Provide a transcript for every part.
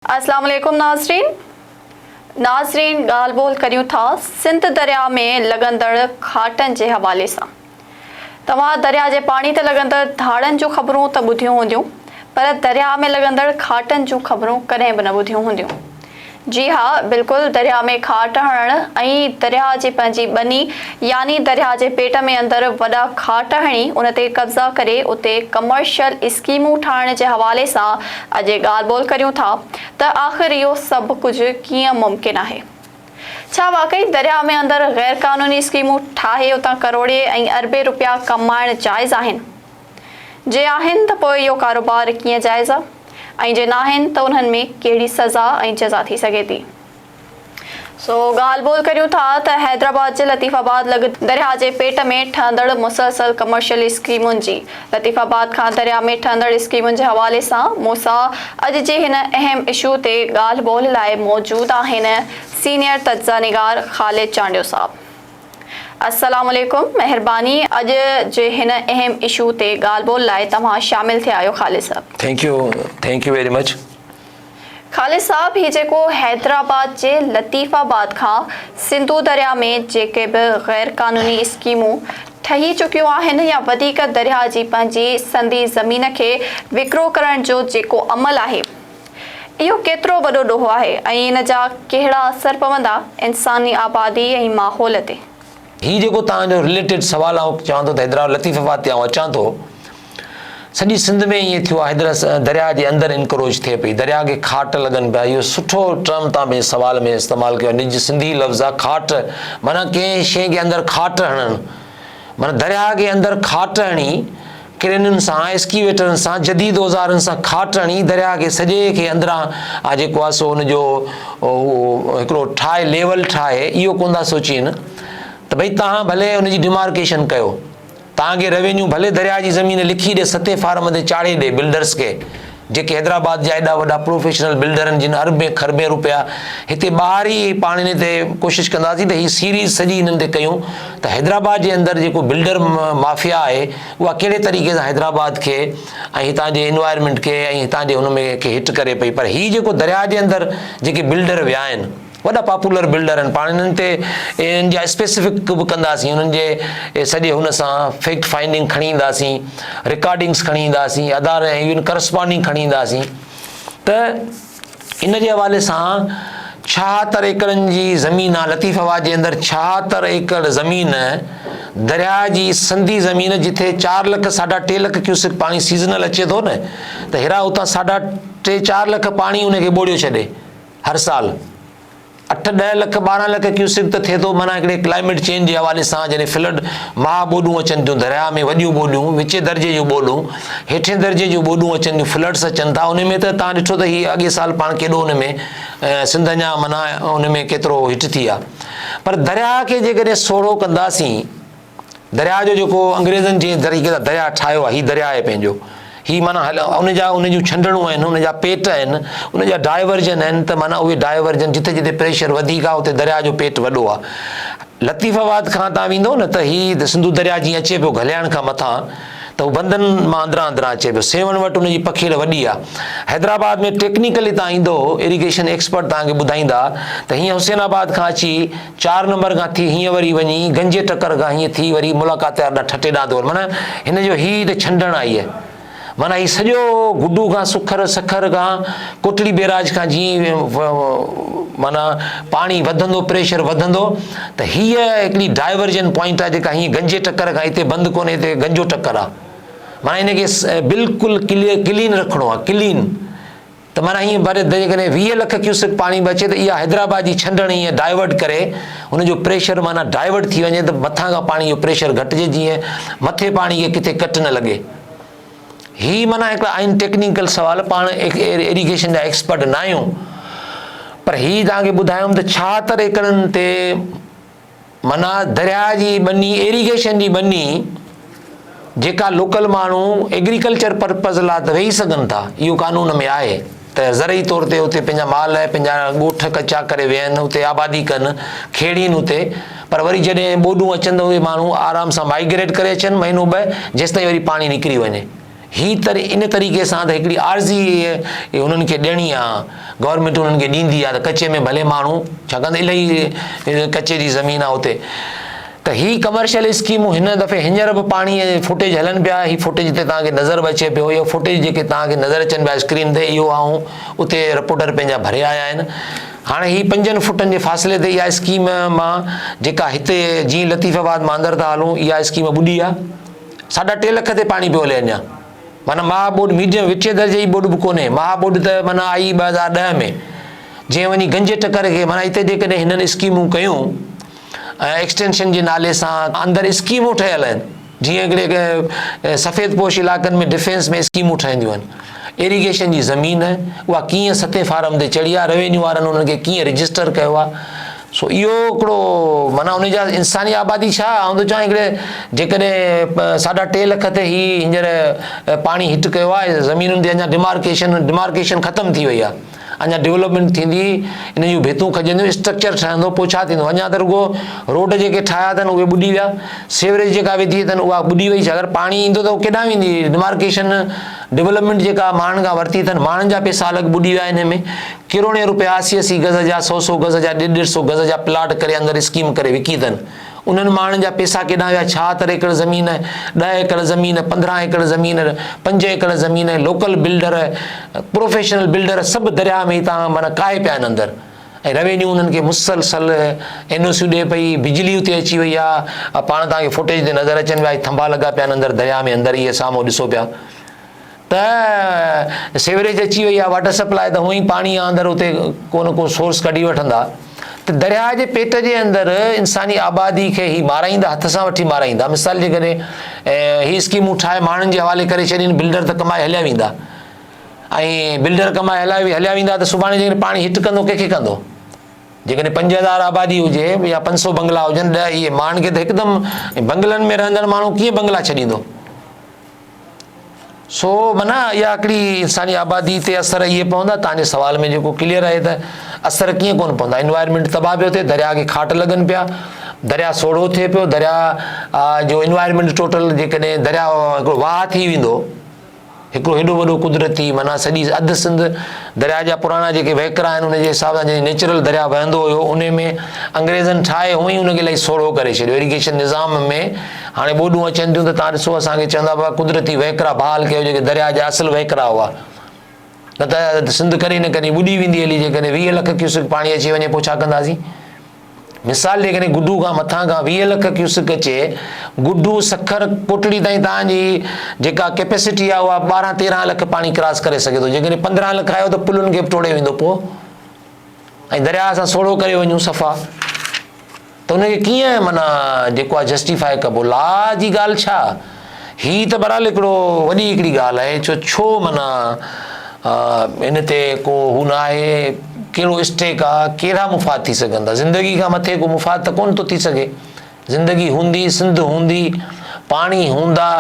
اسلام عليڪم ناظرين ناظرين ڳالهه ٻولهه ڪريون ٿا سنڌ درياهه ۾ لڳندڙ کاٽن جي حوالي سان توهان درياهه جي پاڻي تي لڳندڙ ڌاڙن جون خبرون ته ٻڌيون هونديون پر درياهه ۾ لڳندڙ کاٽن جون خبرون ڪڏهن به نه ٻڌيون هونديون جي ها بلڪل درياهه ۾ کاٽ هڻڻ ۽ درياهه جي پنهنجي ٻني يعني درياهه جي پيٽ ۾ اندر وڏا کاٽ هڻي ان تي قبضا ڪري اتي ڪمرشل اسڪيمون ٺاهڻ جي حوالي سان اڄ ڳالهه ٻولهه ڪريون ٿا ته آخر اهو سڀ ڪجهه ڪيئن ممڪن آهي؟ ڇا واقعي درياء ۾ اندر غير قانوني اسڪيمون ٺاهي اتان ڪروڙين ۽ اربين رپيا ڪمائڻ جائز آهن؟ جي آهن ته پوء اهو ڪاروبار ڪيئن جائز آ؟ ۽ جي ناهن ته انهن ۾ ڪهڙي سزا ۽ جزا ٿي سگهي ٿي؟ سو ڳالهه ٻولهه ڪريون ٿا ته حيدرآباد جي لطيف آباد لڳ درياهه جي پيٽ ۾ ٺهندڙ مسلسل ڪمرشل اسڪيمن جي، لطيف آباد کان درياهه ۾ ٺهندڙ اسڪيمن جي حوالي سان موسيٰ اڄ جي هن اهم اشو تي ڳالهه ٻولهه لاء موجود آهن سينيئر تجزئه نگار خالد چانڊيو صاحب السلام عليڪم مهرباني اڄ جي هن اهم اشو تي ڳالهه ٻولهه لاء توهان شامل ٿيا آهيو خالد صاحب. Thank you thank you very much. Khalid صاحب هي جيڪو حيدرآباد جي لطيف آباد کان سنڌو درياهه ۾ جيڪي به غير قانوني اسڪيمون ٺهي چڪيون آهن يا وڌيڪ درياهه جي پنهنجي سندي زمين کي وڪرو ڪرڻ جو جيڪو عمل آهي اهو ڪيترو وڏو ڏوهه آهي ۽ ان جا ڪهڙا اثر پوندا انساني آبادي ۽ ماحول تي. هي جيڪو توهان جو رليٽيڊ سوال آئون چوان ٿو ته حيدرآباد لطيف آباد تي آئون اچان ٿو سڄي سنڌ ۾ ائين ٿيو آهي حيدر درياء جي اندر انڪروچ ٿئي پئي درياء کي کاٽ لڳن پيا اهو سٺو ٽرم تان پنهنجي سوال ۾ استعمال ڪيو نج سنڌي لفظ آ کاٽ معنيٰ ڪنهن شيء کي اندر کاٽ هڻڻ معنيٰ درياء کي اندر کاٽ هڻي ڪرينن سان، ايسڪيويٽرن سان، جديد اوزارن سان کاٽ هڻي درياهه کي سڄي کي اندران آ جيڪو آ سو ان جو اهو هڪڙو ٺاهي ليول ٺاهي اهو ڪونه ٿا سوچين ته ڀئي تهان ڀلي ان جي ڊيمارڪيشن ڪيو تهان کي روينيو ڀلي درياهه جي زمين لکي ڏي ستي فارم تي چاڙهي ڏي بلڊرز کي جيڪي حيدرآباد جا ايڏا وڏا پروفيشنل بلڊر آهن جن اربين کربين رپيا هتي ٻاهر ئي پاڻيني تي ڪوشش ڪنداسين ته هي سيريز سڄي هنن تي ڪيون ته حيدرآباد جي اندر جيڪو بلڊر مافيا آهي اها ڪهڙي طريقي سان حيدرآباد کي ۽ هتان جي انوائرمينٽ کي ۽ هتان جي هن ۾ کي هٽ ڪري پئي پر هي جيڪو درياء جي اندر جيڪي بلڊر ويا آهن وڏا پاپولر بلڊر آهن پاڻ انهن تي انهن جا اسپيسفڪ به ڪنداسين انهن جي سڄي هن سان فيڪٽ فائنڊنگ کڻي اينداسين رڪارڊنگس کڻي اينداسين ادار ۽ ايون ڪرسپانڊنگ کڻي اينداسين ته ان جي حوالي سان ڇاهتر ايڪڙن جي زمين آ لطيف آباد جي اندر ڇاهتر ايڪڙ زمين درياء جي سنڌي زمين جٿي چار لک ساڍا ٽي لک ڪيوسڪ پاڻي سيزنل اچي ٿو نه ته هيرا اتان ساڍا ٽي چار لک پاڻي ان کي ٻوڙيو ڇڏي هر سال اٺ ڏهه لک ٻارهن لک ڪيوسڪ ته ٿئي ٿو معنيٰ هڪڙي ڪلائميٽ چينج جي حوالي سان جڏهن فلڊ مها ٻوڏون اچن ٿيون درياهه ۾ وڏيون ٻوڏون وچين درجي جون ٻوڏون هيٺين درجي جون ٻوڏون اچن ٿيون فلڊس اچن ٿا ان ۾ ته تان ڏٺو ته هي اڳي سال پاڻ ڪيڏو ان ۾ سنڌ اڃا معنيٰ ان ۾ ڪيترو هيٺ ٿي آهي پر درياهه کي جيڪڏهن سوڙهو ڪنداسين درياء جو جيڪو انگريزن جنهن طريقي سان درياء ٺاهيو آهي، هي درياء آهي پنهنجو. هي معنيٰ هل ان جا ان جون ڇنڊڻون آهن، ان جا پيٽ آهن، ان جا ڊائيورجن آهن ته معنيٰ اهي ڊائيورجن جتي جتي پريشر وڌيڪ آهي اتي درياء جو پيٽ وڏو آهي. لطيف آباد کان تان ويندو نه ته هي سنڌو درياء جيئن اچي پيو گهلياڻ کان مٿان ته هو بندن مان اندران اندران اچي پيو. سيوهڻ وٽ ان جي پکيڙ وڏي آهي. حيدرآباد ۾ ٽيڪنيڪل هتان ايندو اريگيشن ايڪسپرٽ توهان کي ٻڌائيندا ته هيئن حسين آباد کان اچي چار نمبر کان ٿي هينئن وري وڃي گنجي ٽڪر کان هينئن ٿي وري ملاقات يار ڏانهن ٺٽي ڏانهن دور معنيٰ هن جو هي ته ڇنڊڻ آئي هي معنيٰ هي سڄو گڊو کان سکر سکر کان ڪوٽڙي بيراج کان جيئن معنيٰ پاڻي وڌندو پريشر وڌندو ته هيء هڪڙي ڊائيورجن پوائنٽ آ جيڪا هينئن گنجي ٽڪر کان هتي بند ڪونهي هتي گنجو ٽڪر آ معنيٰ هن کي بلڪل ڪلين رکڻو آ ڪلين ته معنيٰ ائين بر ته جيڪڏهن ويهه لک ڪيوسڪ پاڻي به اچي ته اها حيدرآباد جي ڇنڊڻ ائين ڊائيورٽ ڪري ان جو پريشر معنيٰ ڊائيورٽ ٿي وڃي ته مٿان کان پاڻي جو پريشر گهٽجي جيئن مٿي پاڻي کي ڪٿي ڪٽ نه لڳي. هي معنيٰ هڪڙا آهن ٽيڪنيڪل سوال پاڻ ايريگيشن جا ايڪسپرٽ نه آهيون پر هي توهان کي ٻڌايم ته ڇاهتر ايڪڙن تي معنيٰ درياء جي ٻني ايريگيشن جي ٻني جيڪا لوڪل ماڻهو ايگريڪلچر پرپز لا ته ويهي سگهن ٿا اهو قانون ۾ آهي ته زرعي طور تي اتي پنهنجا مال پنهنجا ڳوٺ ڪچا ڪري ويهن اتي آبادي ڪن کيڙين اتي پر وري جڏهن ٻوڏون اچن ته اهي ماڻهو آرام سان مائگريٽ ڪري اچن مهينو ٻه جيستائين وري پاڻي نڪري وڃي هي تر ان طريقي سان ته هڪڙي عارضي انهن کي ڏيڻي آ، گورنمينٽ انهن کي ڏيندي آ ته ڪچي ۾ ڀلي ماڻهو ڇاڪاڻ ته الائي ڪچي جي زمين آ اتي ته هي ڪمرشل اسڪيمون هن دفعي هينئر به پاڻي جي فوٽيج هلن پيا هي فوٽيج هتي توهان کي نظر به اچي پيو اهي فوٽيج جيڪي توهان کي نظر اچن پيا اسڪرين تي اهو آئون اتي رپورٽر پنهنجا ڀري آيا آهن هاڻي هي پنجن فٽن جي فاصلي تي اها اسڪيم مان جيڪا هتي جيئن لطيف آباد مان اندر ٿا هلون اها اسڪيم ٻڏي آ ساڍا ٽي لک تي پاڻي پيو هلي اڃا معنيٰ مها ٻوڏ ميڊيم وچين درجي جي ٻوڏ به ڪونهي مها ٻوڏ ته معنيٰ آئي ٻه هزار ڏهه ۾ جنهن وڃي گنجي ٽڪر کي معنيٰ هتي جيڪڏهن هنن اسڪيمون ڪيون ۽ ايڪسٽينشن جي نالي سان اندر اسڪيمون ٺهيل آهن جيئن هڪڙي سفيد پوش علائقن ۾ ڊفينس ۾ اسڪيمون ٺهنديون آهن ايريگيشن جي زمين اها ڪيئن ستين فارم تي چڙهي آهي روينيو وارن انهن کي ڪيئن رجسٽر ڪيو آهي سو اهو هڪڙو معنيٰ انهي جا انساني آبادي ڇا آئون ٿو چاهيان هڪڙي جيڪڏهن ساڍا ٽي لک تي هي هينئر پاڻي هٽ ڪيو آهي زمينن تي اڃا ڊمارڪيشن ڊمارڪيشن ختم ٿي وئي آهي اڃا ڊولپمينٽ ٿيندي انهن جون ڀيتون کڄنديون اسٽرڪچر ٺهندو پوء ڇا ٿيندو اڃا ته رڳو روڊ جيڪي ٺاهيا اٿن اهي ٻڏي ويا سيوريج جيڪا وڌي اٿن اها ٻڏي وئي اگر پاڻي ايندو ته ڪيڏانهن ويندي ڊمارڪيشن ڊولپمينٽ جيڪا ماڻهن کان ورتي اٿن ماڻهن جا پئسا الڳ ٻڏي ويا انهي ۾ ڪروڙين روپيا اسي اسي گز جا، سؤ سؤ گز جا، ڏيڍ ڏيڍ سؤ گز جا پلاٽ ڪري اندر اسڪيم ڪري وڪي اٿن. انهن ماڻهن جا پيسا ڪيڏانهن ويا، ڇهه تر ايڪڙ زمين، ڏهه ايڪڙ زمين، پندرهن ايڪڙ زمين، پنج ايڪڙ زمين، لوڪل بلڊر، پروفيشنل بلڊر سڀ درياهه ۾ هتان معنيٰ ڪاهي پيا آهن اندر ۽ روينيو انهن کي مسلسل اين او سيون ڏئي پئي، بجلي اتي اچي وئي آ، پاڻ توهان کي فوٽيج تي نظر اچن پيا، ٿنڀا لڳا پيا آهن اندر درياهه ۾ اندر اهي سامهون ڏسو پيا. ته سيوريج اچي وئي آ واٽر سپلاء ته هونئن پاڻي آ اندر اتي ڪو نه ڪو سورس ڪڍي وٺندا ته درياهه جي پيٽ جي اندر انساني آبادي کي هي مارائيندا هٿ سان وٺي مارائيندا مثال جي ڪري هي اسڪيمون ٺاهي ماڻهن جي حوالي ڪري ڇڏين بلڊر ته ڪمائي هليا ويندا ۽ بلڊر ڪمائي هليا هليا ويندا ته سڀاڻي جيڪڏهن پاڻي هٽ ڪندو ڪنهن کي ڪندو جيڪڏهن پنج هزار آبادي هجي يا پنج سو بنگلا هجن ڏهه اهي ماڻهن کي ته هڪدم بنگلن ۾ رهندڙ ماڻهو ڪيئن بنگلا ڇڏيندو سو معنيٰ اها هڪڙي انساني آبادي تي اثر اهي پوندا تنهنجي سوال ۾ جيڪو ڪليئر آهي ته اثر ڪيئن ڪونه پوندا انوائرمينٽ تباهه پيو ٿئي درياء کي کاٽ لڳن پيا درياء سوڙهو ٿئي پيو درياء جو انوائرمينٽ ٽوٽل جيڪڏهن درياء هڪڙو واهه ٿي ويندو هڪڙو هيڏو وڏو قدرتي معنيٰ سڄي اڌ سنڌ درياء جا پراڻا جيڪي وهڪرا آهن ان جي حساب سان جيڪي نيچرل درياء وهندو هيو ان ۾ انگريزن ٺاهي هئي ان کي الاهي سوڙهو ڪري ڇڏيو ايريگيشن نظام ۾ هاڻي ٻوڏون اچن ٿيون ته توهان ڏسو اسان کي چوندا هئا قدرتي وهڪرا بحال ڪيو جيڪي درياء جا اصل وهڪرا هئا نه ته سنڌ ڪڏهن نه ڪڏهن ٻڏي ويندي هلي جيڪڏهن ويهه لک ڪيوسڪ پاڻي اچي وڃي پوء ڇا ڪنداسين مثال جيڪڏهن گڊو کان مٿان کان ويهه لک ڪيوسڪ اچي گڊو سکر ڪوٽڙي تائين تانجي جيڪا ڪيپيسٽي آهي اها ٻارهن تيرهن لک پاڻي ڪراس ڪري سگهي ٿو جيڪڏهن پندرهن لک آيو ته پلن کي به ٽوڙي ويندو پوء ۽ درياء سان سوڙهو ڪري وڃون صفا ته ان کي ڪيئن معنيٰ جيڪو آهي جسٽيفاء ڪبو، لا جي ڳالهه ڇا؟ هي ته بهرحال هڪڙو وڏي هڪڙي ڳالهه آهي جو ڇو معنيٰ ان تي ڪو هو نه آهي، ڪهڙو اسٽيڪ آ، ڪهڙا مفاد ٿي سگهن ٿا، زندگي کان مٿي ڪو مفاد ته ڪونه ٿو ٿي سگهي، زندگي هوندي، سنڌ هوندي، پاڻي هوندا،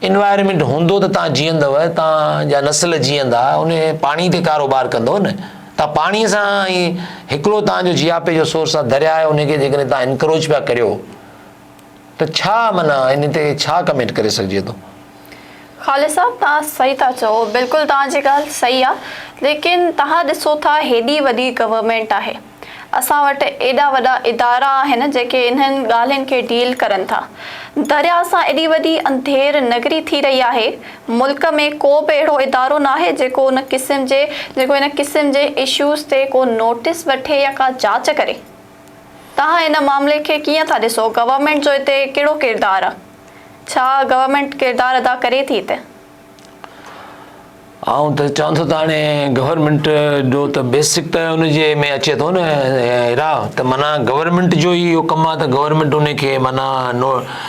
Environment هوندو ته توهان جيئندؤ، توهان جا نسل جيئندا، انهي پاڻي تي ڪاروبار ڪندؤ نه. تان پاڻي سان ۽ هڪڙو تان جو جياپي جو سورس آ درياء آهي ان کي جيڪڏهن تان انڪروچ پيا ڪريو ته ڇا معنيٰ ان تي ڇا ڪمينٽ ڪري سگهجي ٿو. خالد صاحب تان صحيح ٿا چئو بلڪل تان جي ڳالهه صحيح آ ليڪن تان ڏسو ٿا هيڏي وڏي گورنمينٽ آهي اسان وٽ ايڏا وڏا ادارا آهن جيڪي انهن ڳالهين کي ڊيل ڪرن ٿا درياء سان ايڏي وڏي انڌير نگري ٿي رهي آهي ملڪ ۾ ڪو به اهڙو ادارو ناهي جيڪو ان قسم جي جيڪو ان قسم جي اشوز تي ڪو نوٽس وٺي يا ڪا جاچ ڪري. توهان ان معاملي کي ڪيئن ٿا ڏسو؟ گورنمينٽ جو اتي ڪهڙو ڪردار آ؟ ڇا گورنمينٽ ڪردار ادا ڪري ٿي اتي؟ آئون ته چوان ٿو ته هاڻي گورنمينٽ جو ته بيسڪ ته ان جي ۾ اچي ٿو نه هيرا ته معنيٰ گورنمينٽ جو ئي اهو ڪم آ ته گورنمينٽ ان کي معنيٰ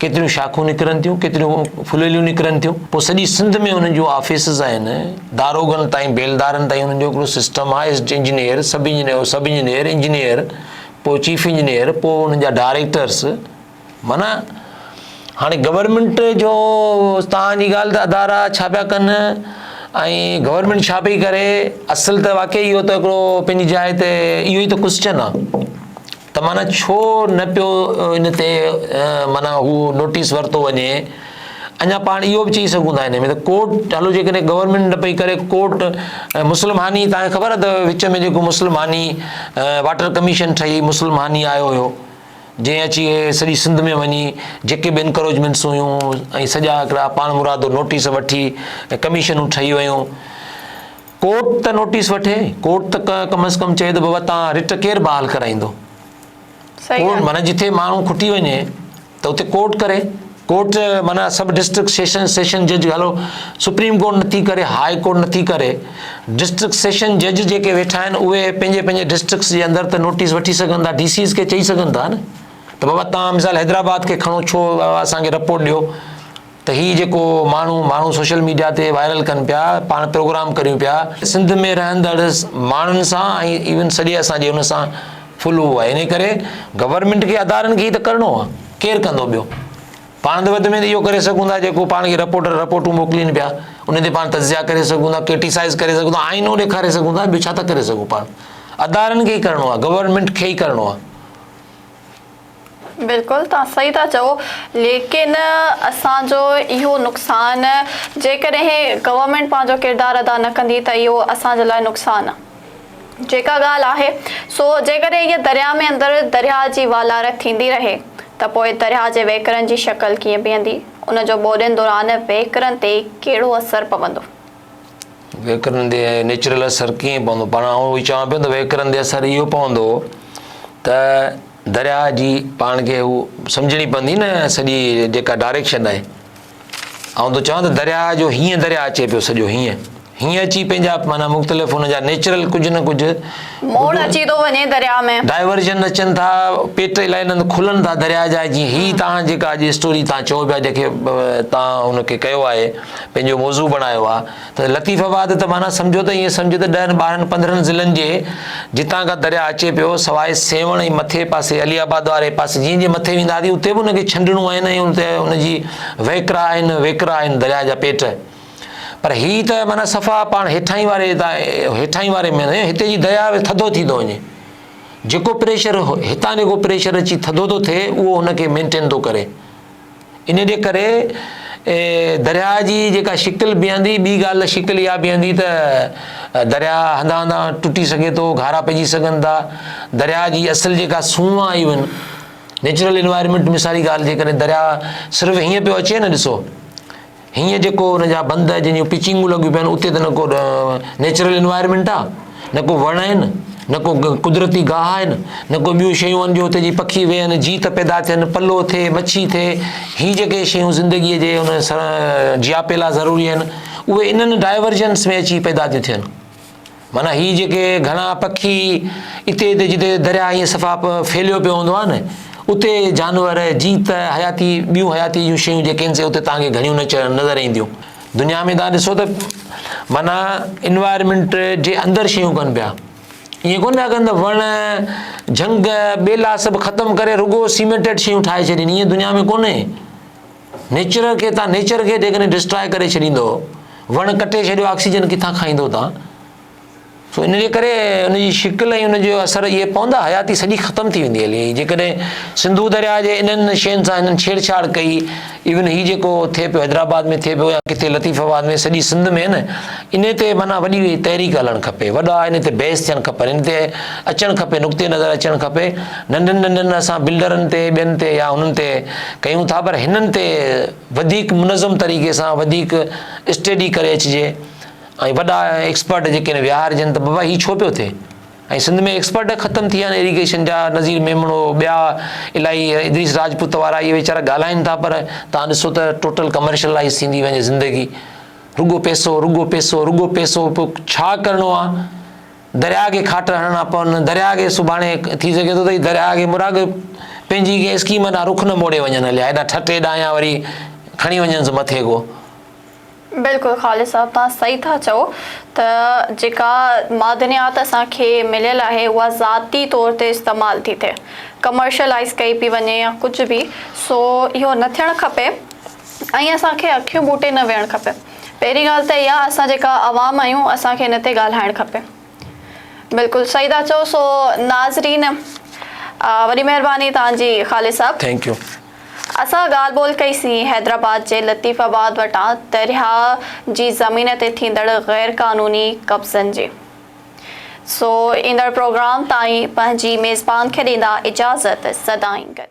ڪيتريون شاخون نڪرن ٿيون، ڪيتريون ڦليليون نڪرن ٿيون. پوء سڄي سنڌ ۾ انهن جون آفيسز آهن، داروغن تائين بيلدارن تائين انهن جو هڪڙو سسٽم آهي، ايسٽ engineer, sub engineer, sub engineer, engineer, پوء چيف انجنيئر، پوء انهن جا ڊائريڪٽرس، معنيٰ هاڻي گورنمينٽ جو توهان جي ڳالهه ته ادارا ڇا پيا ڪن ۽ گورنمينٽ ڇا پئي ڪري، اصل ته واقعي اهو ته هڪڙو پنهنجي جاء تي اهو ئي ته ڪوسچن آهي. ته معنيٰ ڇو نه پيو ان تي معنيٰ هو نوٽيس ورتو وڃي اڃا پاڻ اهو به چئي سگهون ٿا ان ۾ ته ڪورٽ هلو جيڪڏهن گورنمينٽ نه پئي ڪري ڪورٽ مسلم هاني تان کي خبر اٿو وچ ۾ جيڪو مسلم هاني واٽر ڪميشن ٺهي مسلم هاني آيو هيو جنهن اچي سڄي سنڌ ۾ وڃي جيڪي به انڪروچمينٽس هيون ۽ سڄا هڪڙا پاڻ مرادو نوٽيس وٺي ڪميشنون ٺهي ويون ڪورٽ ته نوٽيس وٺي، ڪورٽ ته ڪم از ڪم چئي ته بابا توهان رٽ ڪير بحال ڪرائيندو؟ ڪورٽ معنيٰ جتي ماڻهو کٽي وڃي ته اتي ڪورٽ ڪري، ڪورٽ معنيٰ سب ڊسٽرڪٽ سيشن سيشن جج هلو سپريم ڪورٽ نٿي ڪري، هاء ڪورٽ نٿي ڪري، ڊسٽرڪٽ سيشن جج جيڪي ويٺا آهن اهي پنهنجي پنهنجي ڊسٽرڪٽس جي اندر ته نوٽيس وٺي سگهن ٿا، ڊي سيز کي چئي سگهن ٿا نه ته بابا توهان مثال حيدرآباد کي کڻو ڇو اسان کي رپورٽ ڏيو. ته هي جيڪو ماڻهو ماڻهو سوشل ميڊيا تي وائرل ڪن پيا پاڻ پروگرام ڪريون پيا سنڌ ۾ رهندڙ ماڻهن سان ۽ ايون سڄي اسان جي ان سان فلو آهي ان ڪري گورنمينٽ کي ادارن کي ته ڪرڻو آهي ڪير ڪندو ٻيو پاڻ ته وڌ ۾ اهو ڪري سگهون ٿا جيڪو پاڻ کي رپورٽر رپورٽون موڪلين پيا ان تي پاڻ تجزيا ڪري سگهون ٿا ڪرٽيسائز ڪري سگهون ٿا آئينو ڏيکاري سگهون ٿا ٻيو ڇا ٿا ڪري سگهون پاڻ ادارن کي ئي ڪرڻو آهي گورنمينٽ کي ئي ڪرڻو آهي بلڪل توهان صحيح ٿا چئو ليڪن اسان جو اهو نقصان جيڪڏهن گورنمينٽ پنهنجو ڪردار ادا نه ڪندي ته اهو اسان جي لاء نقصان جيڪا ڳالهه آهي سو جيڪڏهن هيء درياء ۾ اندر درياء جي والارت ٿيندي رهي ته پوء درياء جي وهڪرن جي شڪل ڪيئن بيهندي ان جو ٻوڏين دوران وهڪرن تي ڪهڙو اثر پوندو. وهڪرن تي نيچرل اثر ڪيئن پوندو پاڻ آئون اهو ئي چوان پيو ته وهڪرن تي اثر اهو پوندو ته درياهه جي پاڻ کي هو سمجهڻي پوندي نه سڄي جيڪا ڊائريڪشن آهي آئون ته چوان ته درياهه جو هيئن درياهه اچي پيو سڄو هيئن هيئن اچي پنهنجا معنيٰ مختلف هن جا نيچرل ڪجهه نه ڪجهه موڙ اچي ٿو وڃي درياهه ۾ ڊائيورجن اچن ٿا پيٽ الائي نند کلن ٿا درياهه جا جيئن هي تهان جيڪا اڄ اسٽوري تهان چئو پيا جيڪي تهان هن کي ڪيو آهي پنهنجو موضوع بڻايو آهي ته لطيف آباد ته معنيٰ سمجهو ته ائين سمجهه ته ڏهن ٻارهن پندرهن ضلعن جي جتان کان درياهه اچي پيو سواء سيوهڻ ۽ مٿي پاسي علي آباد واري پاسي جيئن جيئن مٿي ويندا هئاسين اتي به ان کي ڇنڊڻون آهن ۽ اتي ان جي وهڪرا آهن ويڪرا آهن درياهه جا پيٽ پر هي ته معنيٰ صفا پاڻ هيٺاهين واري هيٺاهين واري ۾ هتي جي درياهه ٿڌو ٿي ٿو وڃي جيڪو پريشر هتان جيڪو پريشر اچي ٿڌو ٿو ٿئي اهو ان کي مينٽين ٿو ڪري ان جي ڪري درياهه جي جيڪا شڪل بيهندي، ٻي ڳالهه ته شڪل اها بيهندي ته درياهه هنڌان هنڌان ٽٽي سگهي ٿو، گهارا پئجي سگهن ٿا، درياهه جي اصل جيڪا سونهن آهي اهن نيچرل انوائرمينٽ مثالي ڳالهه جيڪڏهن درياهه صرف هيئن پيو اچي نه ڏسو. هينئر جيڪو ان جا بند جن جون پچنگون لڳيون پيون آهن اتي ته نه ڪو نيچرل انوائرمينٽ آهي نه ڪو وڻ آهن نه ڪو قدرتي گاهه آهن نه ڪو ٻيون شيون آهن جو اتي جي پکي ويهن جيت پيدا ٿين پلو ٿئي مڇي ٿئي هي جيڪي شيون زندگيء جي ان جياپي لاء ضروري آهن اهي انهن ڊائيورجنس ۾ اچي پيدا ٿيون ٿين معنيٰ هي جيڪي گهڻا پکي اتي اتي جتي درياء ائين صفا ڦهليو پيو هوندو آهي نه اتي جانور جيت حياتي ٻيون حياتي جون شيون جيڪي آهن سي اتي تهان کي گهڻيون نظر اينديون دنيا ۾ تان ڏسو ته معنيٰ انوائرمنٽ جي اندر شيون ڪن پيا ائين ڪون پيا ڪن ته وڻ جهنگ ٻيلا سڀ ختم ڪري رڳو سيمينٽيڊ شيون ٺاهي ڇڏين ائين دنيا ۾ ڪونهي نيچر کي تان نيچر کي جيڪڏهن ڊسٽراء ڪري ڇڏيندو وڻ ڪٽي ڇڏيو آڪسيجن ڪٿان کائيندو تان سو ان جي ڪري ان جي شڪل ۽ ان جو اثر اهي پوندا حياتي سڄي ختم ٿي ويندي هلي جيڪڏهن سنڌو درياء جي انهن شين سان هنن ڇيڙ ڇاڙ ڪئي ايون هي جيڪو ٿئي پيو حيدرآباد ۾ ٿئي پيو يا ڪٿي لطيف آباد ۾ سڄي سنڌ ۾ نه ان تي معنيٰ وڏي تحريڪ هلڻ کپي وڏا ان تي بحث ٿيڻ کپن ان تي اچڻ کپي نقطي نظر اچڻ کپي ننڍن ننڍن اسان بلڊرن تي ٻين تي يا انهن تي ڪيون ٿا پر هنن تي وڌيڪ منظم طريقي سان وڌيڪ اسٽيڊي ڪري اچجي ۽ وڏا ايڪسپرٽ جيڪي آهن ويهارجن ته بابا هي ڇو پيو ٿئي ۽ سنڌ ۾ ايڪسپرٽ ختم ٿي ويا آهن ايريگيشن جا نظير ميمڻو ٻيا الاهي ادريس راجپوت وارا اهي ويچارا ڳالهائن ٿا پر تان ڏسو ته ٽوٽل ڪمرشلائز ٿيندي وڃي زندگي رڳو پيسو رڳو پيسو رڳو پيسو پوء ڇا ڪرڻو آهي درياهه کي کاٽ هڻڻ کان پوء ان درياهه کي سڀاڻي ٿي سگهي ٿو ته هي درياهه کي مراڳ پنهنجي ڪنهن اسڪيم ڏانهن رخ نه موڙي وڃن هليا هيڏانهن ٺٽي ڏانهن يا وري کڻي وڃنس مٿي ڪو. بلڪل خالد صاحب توهان صحيح ٿا چئو ته جيڪا معدنيات اسان کي مليل آهي اها ذاتي طور تي استعمال ٿي ٿئي ڪمرشلائيز ڪئي پئي وڃي يا ڪجهه به سو اهو نه ٿيڻ کپي ۽ اسان کي اکيون ٻوٽي نه ويهڻ کپي. پهرين ڳالهه ته اها اسان جيڪا عوام آهيون اسان کي ان تي ڳالهائڻ کپي. بلڪل صحيح ٿا چئو سو ناظرين وڏي مهرباني توهان جي خالد صاحب. Thank you. اسان ڳالهه ٻولهه ڪئي سين حيدرآباد جي لطيف آباد وٽان درياء جي زمين تي ٿيندڙ غير قانوني قبضن جي سو ايندڙ پروگرام تائين پنهنجي ميزبان کي ڏيندا اجازت سدائين گڏ.